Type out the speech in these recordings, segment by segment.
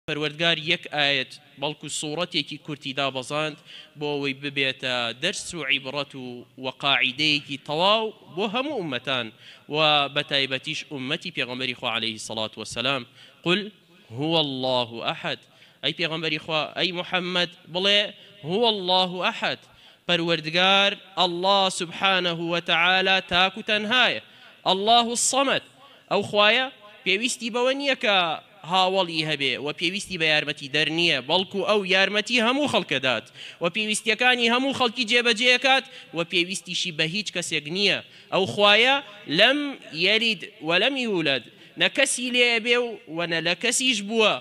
پەروەردگار یەک ئایەت بەڵکو سوڕەتێکی کورتی دابەزاند بۆ ئەوەی ببێتە دەرس و عیبڕەت و وە قاعیدەیەکی تەواو بۆ هەموو ئوممەتان و بەتایبەتیش ئوممەتی پێغەمبەری خوا علیە الصلوە و السلام، قل هو اللە احد، ئەی پێغەمبەری خوا، ئەی محمد، بڵێ، هو اللە احد، پەروەردگار، اللە سبحانە و تعالی، تاک و تەنهایە، اللە الصمد، ئەو خوایە پێویستی بەوە نیە کە هاوەڵی هەبێ و پێویستی بە یارمەتی دەر نییە بەڵکو ئەو یارمەتی هەموو خەڵکەدات و پێویستیەکانی هەموو خەڵکی جێبەجێکات و پێویستیشی بە هیچ کەسێک نییە ئەو خوایە لەم یەلید وەلەم یولەد نە کەسی لێ بێ و وە نە لە کەسیش بووە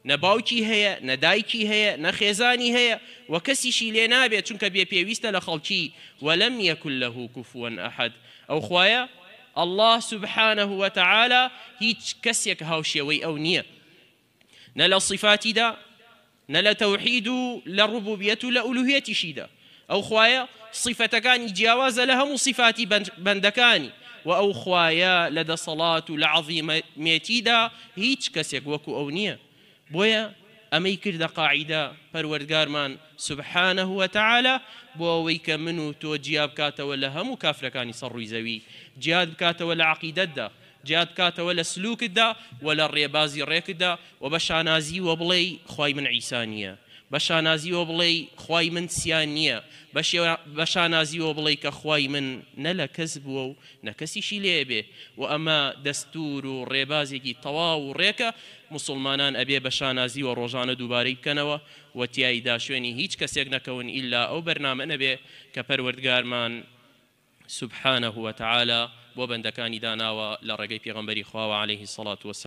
نە باوکی هەیە نە دایکی هەیە نە خێزانی هەیە و کەسیشی لێ نابێ چونکە بێ پێویستە لە خەڵکی وەلەم یەکون لەهو کوفوەن ئەحەد ئەو خوایە اللە سبحانە وتعالی هیچ کەسێک هاوشێوەی ئەو نییە نە لە صیفاتیدا نە لە تەوحید و لە ڕبوبیەت و لە ئولوهیەتیشیدا ئەو خوایە صیفەتەکانی جیاوازە لە هەموو صیفاتی بەندەکانی و ئەو خوایە لە دەسەڵات و لە عەزیمەتیدا هیچ کەسێک وەکو ئەو نییە. بۆیە ئەمەی کردە قاعیدە پەروەردگارمان سبحانە و تعالی بۆ ئەوەی کە من و تۆ جیا بکاتەوە لە هەموو کافرەکانی سەر ڕووی زەوی جیات بکاتەوە لە عەقیدەتدا جیات بکاتەوە لە سلوکتدا و لە ڕێبازی ڕێکتدا و بە شانازیوە بڵێی خوای من عیسا نییە بە شانازیوە بڵێی خوای من سیا نییە بە شانازیوە بڵێی کە خوای من نە لە کەس بووە و نە کەسیشی لێ بێ و ئەمە دەستور و ڕێبازێکی تەواو و ڕێکە موسوڵمانان ئەبێ بە شانازی و ڕۆژانە دووبارەی بکەنەوە و تیایدا شوێنی هیچ کەسێک نەکەون ئیلا ئەو بەرنامە نەبێ کە پەروەردگارمان سبحانە وتعالی بۆ بەندەکانی داناوە لە ڕێگەی پێغەمبەری خواوە علیە الصلوة.